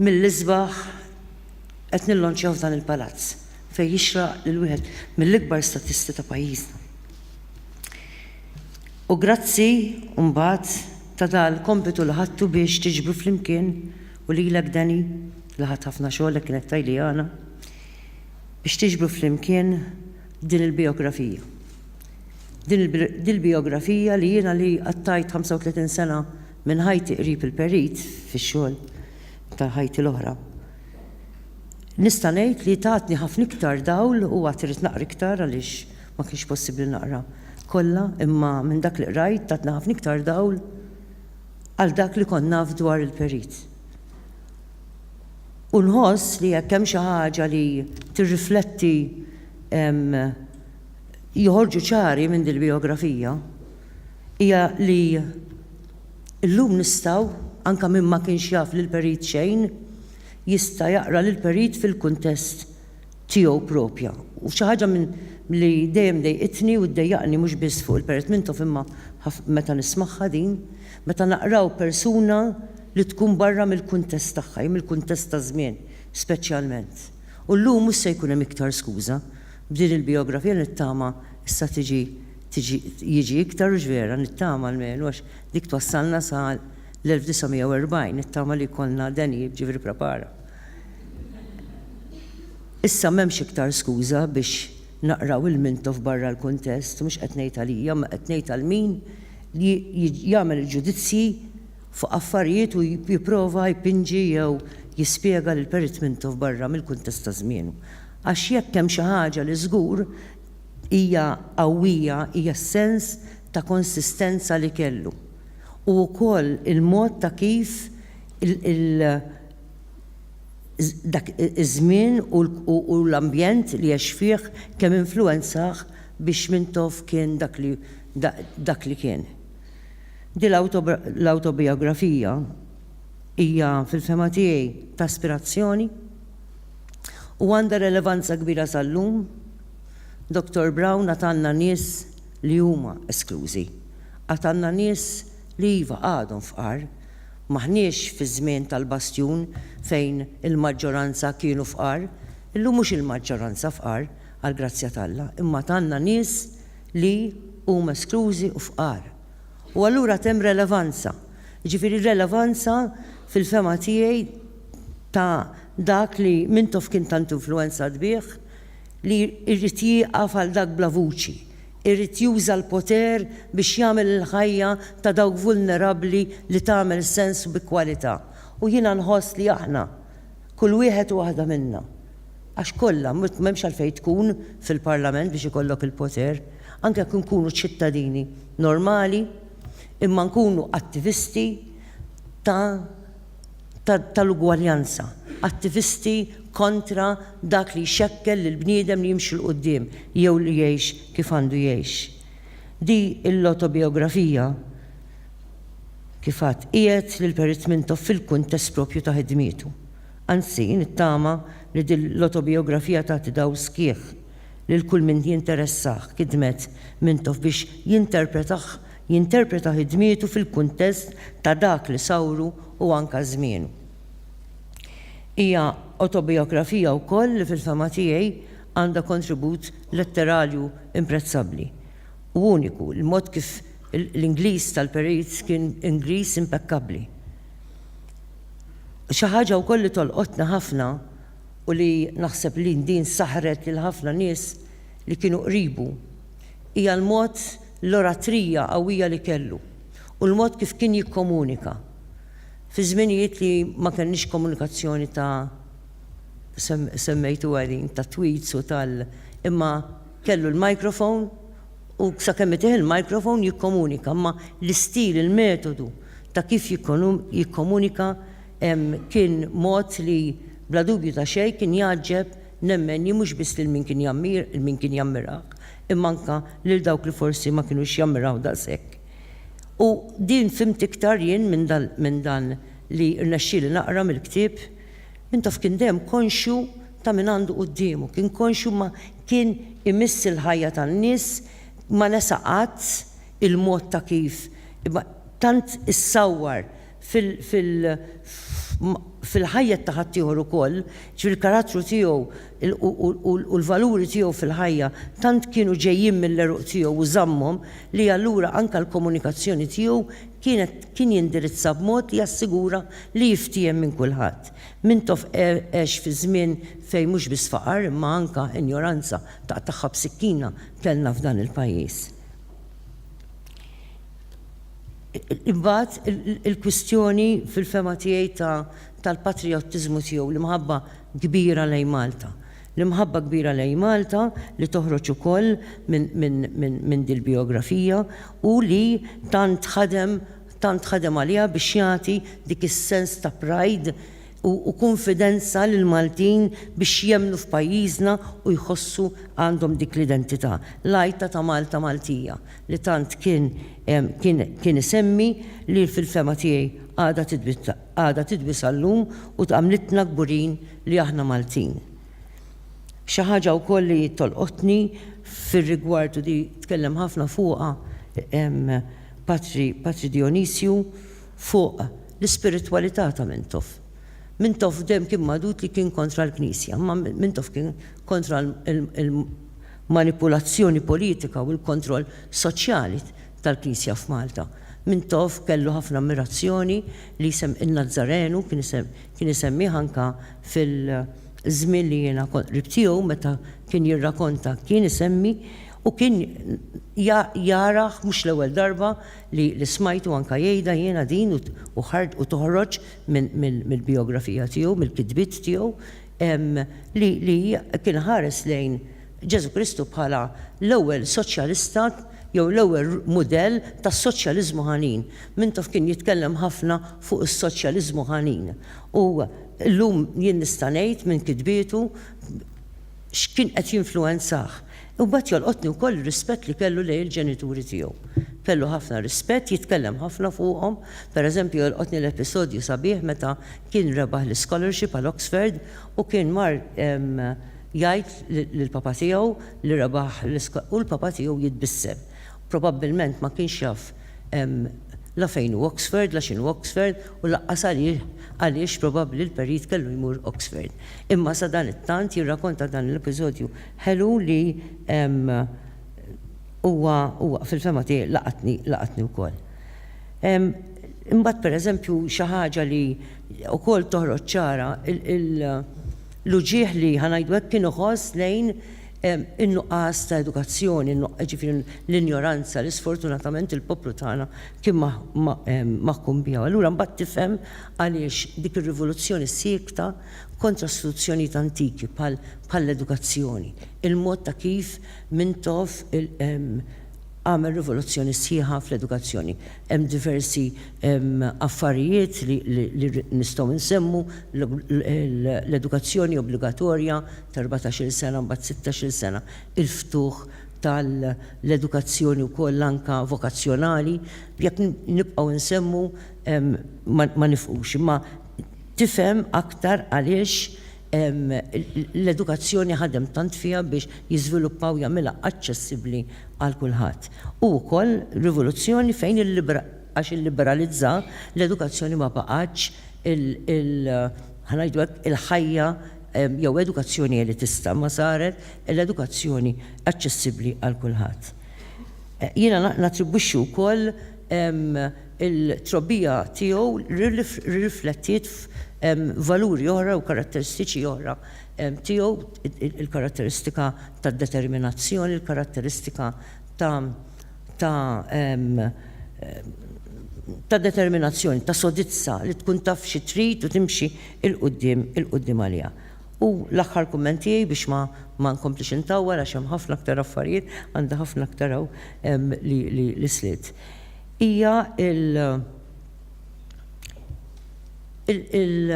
mill-isbaħ qed nillonċjaw f'dan il-palazz fejn jixraq lil wieħed mill-ikbar statisti ta' pajjiżna. U grazzi mbagħad ta' dan il-kompitu li ħadtu biex tiġbru flimkien u lilek Danny li ħadt ħafna xogħol hekk kienet tgħidli Ana biex tiġbru flimkien din il-bijografija. Din il-bijografija li jiena li qattajt 35 sena Minn ħajti qrib il-Perit, fix-xogħol ta' ħajti l-oħra, nista' ngħid li tatni ħafna iktar dawl u għad irrid naqra iktar għaliex ma kienx possibbli naqra kollha imma minn dak li qrajt tatni ħafna iktar dawl għal dak li kont naf dwar il-Perit. U nħoss li jekk hemm xi ħaġa li tirrifletti joħorġu ċari minn dil-bijografija, hija li llum nistgħu, anke min ma kienx jaf lill-Perit xejn, jista' jaqra lill-Perit fil-kuntest tiegħu proprja. U xi ħaġa minn li dejjem dejqitni u ddejjaqni mhux biss fuq il-Perit Mintoff imma meta nismagħha din, meta naqraw persuna li tkun barra mill-kuntest tagħha, hi mill-kuntest taż-żmien speċjalment. U llum mhux se jkun hemm iktar skuża, b'din il-bijografija nittama issa tiġi tiġi jiġi iktar u x'vera nittama almenu għax dik twassalna sa l-1940 nittama li jkollna denijiet ġifieri prepara. Issa m'hemmx iktar skuża biex naqraw il-Mintoff barra l-kuntest, mhux qed ngħid għalija imma qed ngħid għal min li jagħmel il-ġudizzji fuq affarijiet u jipprova jpinġi jew jispjega lill-Perit Mintoff barra mill-kuntest ta' żmienu. Għax jekk hemm xi ħaġa li żgur Hija qawwija hija s-sens ta' konsistenza li kellu u wkoll il-mod ta' kif dak iż-żmien u l-ambjent li għex fih kemm influwenzah biex Mintoff kien dak li kien. Din l-awtobijografija hija fil-fehma tiegħi ta' aspirazzjoni u għandha relevanza kbira sal-lum. Dottor Brown għad għandna nies li huma esklużi. Għad għandna nies li iva għadhom fqar. M'aħniex fiż-żmien tal-bastjun fejn il-maġġoranza kienu fqar. Illum mhux il-maġġoranza fqar, għall-grazzja t'Alla, imma għad għandna nies li huma esklużi u fqar. U allura għad hemm relevanza. Jiġifieri relevanza fil-fehma tiegħi ta' dak li Mintoff kien tant influwenzat bih, li jrid jieqaf għal dak bla vuċi, irid juża l-poter biex jagħmel il-ħajja ta' dawk vulnerabbli li tagħmel sens u bi kwalità. U jiena nħoss li aħna, kull wieħed u waħda minna, għax kollha, m'hemmx għalfejn tkun fil-Parlament biex ikollok il-poter, anke jekk inkunu ċittadini normali, imma nkunu attivisti ta' tal-ugwaljanza, attivisti kontra dak li jxekkel lill-bniedem li jimxi 'l quddiem jew li jgħix kif għandu jgħix. Di l-autobiografija, kif għadt, qiegħed lil Perit Mintoff fil-kuntest proprju ta' ħidmietu. Anzi, nittama li din l-autobiografija tagħti dawl sħiħ lil kull min jinteressah, kidmet Mintoff biex jinterpretah Jinterpreta ħidmietu fil-kuntest ta' dak li sawru u anke żmienu. Hija awtobijografija wkoll li fil-fehma tiegħi għandha kontribut letterarju imprezzabbli u uniku, il-mod kif l-Ingliż tal-perit kien Ingliż impekkabbli. Xi ħaġa wkoll li tolqotni ħafna u li naħseb li din saħħret lil ħafna nies li kienu qribu hija l-mod l-oratrija qawwija li kellu u l-mod kif kien jikkomunika fi żminijiet li ma kellniex komunikazzjoni ta' semmejtuha din tat-tweets u tal imma kellu l-microphone u sakemm itih il-microphone jikkomunika imma l-istil il-metodu ta' kif jikkomunika kien mod li bla dubju ta' xejn kien jgħaġġeb nemmen jien mhux biss lil min kien jgħammir lil min kien jammirah imma anke lil dawk li forsi ma kinux jammiraw daqshekk. U din fhimt iktar jien minn dan li rnexxieli naqra mill-ktieb, min taf kien dejjem konxju ta' min għandu quddiemu, kien konxju ma kien imiss il-ħajja tan-nies, ma nesa qatt il-mod ta' kif, imma tant issawwar fil-ħajja ta' ħaddieħor ukoll, ġifieri l-karattru tiegħu u l-valuri tiegħu fil-ħajja tant kienu ġejjin mill-għeruq tiegħu u żammhom li allura anke l-komunikazzjoni tiegħu kienet kien jindirizza b'mod li jassigura li jiftiehem minn kulħadd. Mintoff għex fi żmien fejn mhux biss faqar imma anke injoranza taqtagħha b'sikkina kellna f'dan il-pajjiż. Imbagħad il-kwistjoni fil-fehma tiegħi ta' tal-patrijottiżmu tiegħu, l-imħabba kbira lejn Malta. L-imħabba kbira lejn Malta li toħroġ ukoll minn dil-bijografija u li tant ħadem tant ħadem għaliha biex jagħti dik is-sens ta' pride u kunfidenza lill-Maltin biex jemmnu f'pajjiżna u jħossu għandhom dik l-identità, l-għajta ta' Malta Maltija. li tant kien kien kien isemmi li fil-fehma tiegħi għadha għadha tidwi sal-lum u tgħamlitna kburin li aħna Maltin. Xi ħaġa wkoll li tolqotni fir-rigward u di tkellem ħafna fuqha Patri Patri Dijonisju fuq l-ispiritwalità ta' Mintoff. Mintoff dejjem kien magħdud li kien kontra l-Knisja, imma Mintoff kien kontra l-manipulazzjoni politika u l-kontroll soċjali tal-Knisja f'Malta. Mintoff kellu ħafna ammirazzjoni li jsemm in-Nazzarenu, kien isemmih anke fil-żmien li jiena kont qrib tiegħu meta kien jirrakonta kien isemmi u kien jarah mhux l-ewwel darba li smajtu anke jgħidha jiena din u toħroġ mill-bijografija tiegħu, mill-kitbiet tiegħu, li kien ħares lejn Ġesù Kristu bħala l-ewwel soċjalista jew l-ewwel mudell tas-soċjaliżmu ħanin. Mintoff kien jitkellem ħafna fuq is-soċjaliżmu ħanin. U llum jien nista' ngħid minn kitbietu, x'kien qed jinfluwenzah. Imbagħad jolqotni wkoll ir-rispett li kellu lejn il-ġenituri tiegħu. Kellu ħafna rispett, jitkellem ħafna fuqhom. Per eżempju jolqotni l-episodju sabiħ meta kien rebaħ l-ischolarship għal Oxford u kien mar jgħid lill-papa tiegħu li rebaħ l-ischolarship u l-papa tiegħu jitbissem. Probabbilment ma kienx jaf Hemm la fejn hu Oxford, la x'inhu Oxford u laqqas għalih għaliex probabbli l-perit kellu jmur Oxford. Imma sadanittant jirrakonta dan l-episodju ħelu li huwa huwa fil-fehma tiegħi laqatni laqatni wkoll. Imbagħad pereżempju xi ħaġa li wkoll toħroġ ċara il l-uġigħ li ħa ngħidu hekk kien iħoss lejn in-nuqqas ta' edukazzjoni, jiġifieri l-injoranza li sfortunatament il-poplu tagħna kien maħkum biha. Allura mbagħad tifhem għaliex dik ir-rivoluzzjoni siekta kontra istituzzjonijiet antiki bħall-edukazzjoni, il-mod ta' kif Mintoff għamel rivoluzzjoni sħiħa fl-edukazzjoni. Hemm diversi affarijiet li nistgħu nsemmu, l-edukazzjoni obbligatorja, ta' erbatax-il sena mbagħad sittax-il sena, il-ftuħ tal-edukazzjoni wkoll anke vokazzjonali, jekk nibqgħu insemmu ma nifqux, imma tifhem aktar għaliex l-edukazzjoni ħadem tant fiha biex jiżviluppa u jagħmilha aċċessibbli għal kulħadd. Hu wkoll rivoluzzjoni fejn għax illiberalizza l-edukazzjoni ma baqgħetx il-, ħa ngħidu hekk, il-ħajja jew edukazzjoni elitista ma saret l-edukazzjoni aċċessibbli għal kulħadd. Jiena nattribwixxi wkoll il-trobbija tiegħu rriflettiet f'valuri oħra u karatteristiċi oħra tiegħu, il-karatteristika tad-determinazzjoni, il-karatteristika ta' ta' ta' determinazzjoni, ta' sodizza li tkun taf xi trid u timxi 'il quddiem, 'il quddiem għaliha. U l-aħħar kumment tiegħi biex ma ma nkomplix intawwal għax hemm ħafna aktar affarijiet, għandi ħafna aktar hawn li li li slitt. Hija il il il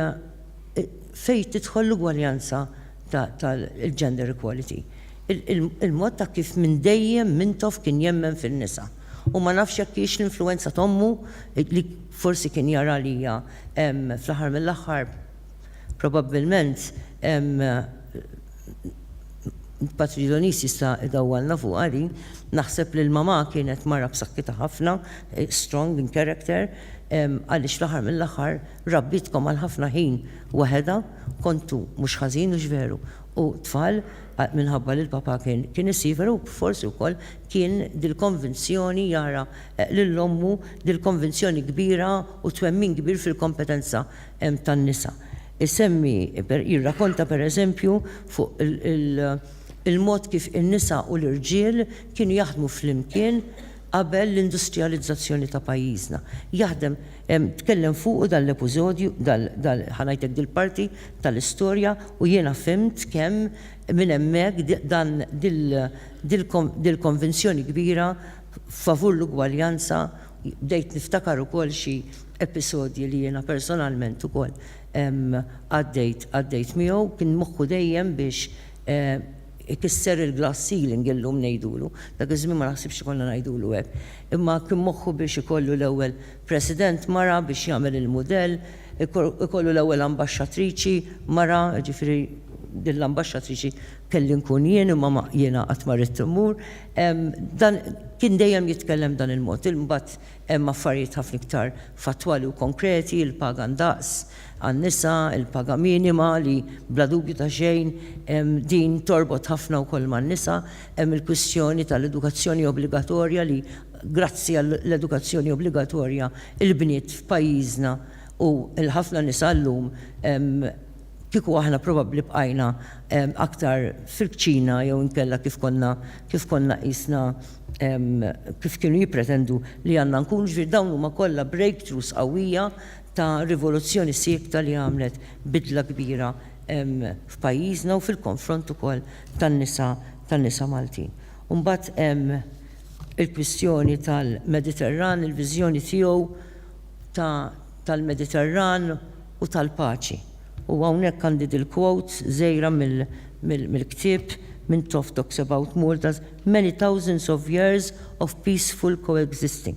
fejn tidħol l-ugwaljanza ta' ta' il-gender equality. Il-mod ta' kif minn dejjem Mintoff kien jemmen fin-nisa. U ma nafx jekk hijiex l-influwenza t'ommu li forsi kien jara li hija Fl-aħħar mill-aħħar, probabbilment, Patridonis jista' idawwalna fuqha din, naħseb li l-mamà kienet mara b'saħħitha ħafna, strong in character, għaliex fl-aħħar mill-aħħar rabbietkom għal ħafna ħin waħedha, kontu mhux ħażin hux veru, u tfal, minħabba li l-papà kien isiefer u forsi wkoll kien dil-konvinzjoni jara lil ommu dil-konvinzjoni kbira u twemmin kbir fil-kompetenza tan-nisa. Isemmi, jirrakonta pereżempju fuq il-mod kif in-nisa u l-irġiel kienu jaħdmu flimkien qabel l-industrijalizzazzjoni ta' pajjiżna. Jaħdem, tkellem fuqu dan l-episodju, ħa ngħidlek dil-parti tal-istorja u jiena fhimt kemm minn hemmhekk dil-konvinzjoni kbira favur l-ugwaljanza, bdejt niftakar ukoll xi episodji li jiena personalment ukoll għaddejt għaddejt miegħu, kien moħħu dejjem biex ikisser il-glass ceiling illum ngħidulu, dak iż-żmien ma naħsibx li konna ngħidulu hekk, imma kien moħħu biex ikollu l-ewwel President mara biex jagħmel il-mudell, ikollu l-ewwel Ambaxxatriċi mara, jiġifieri din l-Ambaxxatriċi kelli nkun jien imma jiena qatt ma ridt immur, Dan kien dejjem jitkellem b'dan il-mod. Imbagħad hemm affarijiet ħafna iktar fattwali u konkreti, il-paga ndaqs għan-nisa, il-paga minima li bla dubju ta' xejn din torbot ħafna wkoll man-nisa, hemm il-kwistjoni tal-edukazzjoni obbligatorja li grazzi għall-edukazzjoni obbligatorja l-bniet f'pajjiżna u l-ħafna nisa llum Kieku aħna probabbli bqajna aktar fil-kċina jew inkella kif konna kif konna qisna kif kienu jippretendu li għandna nkunu, ġifieri dawn huma kollha breakthroughs qawwija ta' rivoluzzjoni siekta li għamlet bidla kbira f'pajjiżna u fil-konfront ukoll tan-nisa tan-nisa Maltin. U mbagħad hemm il-kwistjoni tal-Mediterran, il-viżjoni tiegħu, ta' tal-Mediterran u tal-paċi. U hawnhekk għandi dil-quote żgħira mill-ktieb minn Toff Talks About Malta's many thousands of years of peaceful coexisting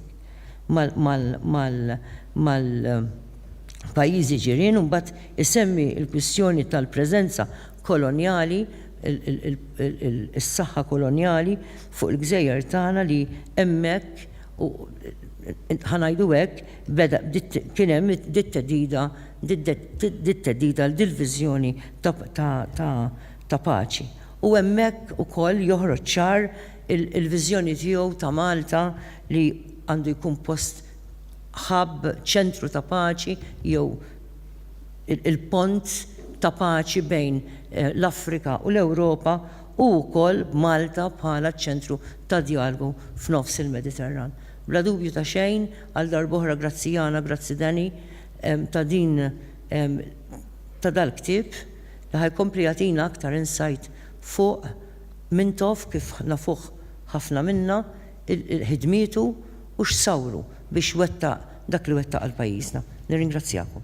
mal-pajjiżi ġirien u mbagħad isemmi l-kwistjoni tal-preżenza kolonjali, is-saħħa kolonjali fuq il-gżejjer tagħna li hemmhekk, u ħa ngħidu hekk, beda kien hemm dit-theddida dit-theddida għal dil-viżjoni ta' paċi. U hemmhekk ukoll joħroġ ċar il-viżjoni tiegħu ta' Malta li għandu jkun post hub, ċentru ta' paċi jew il-pont ta' paċi bejn l-Afrika u l-Ewropa, u wkoll b'Malta bħala ċ-ċentru ta' djalgu f'nofs il-Mediterran. Bla dubju ta' xejn, għal darb'oħra grazzi Jana, grazzi Danny, ta' din ta' dal-ktieb li ħa jkompli jagħtina aktar insight fuq Mintoff kif nafuh ħafna minna, ħidmietu u x'sawru biex wettaq dak li wettaq għal pajjiżna. Nirringrazzjakom.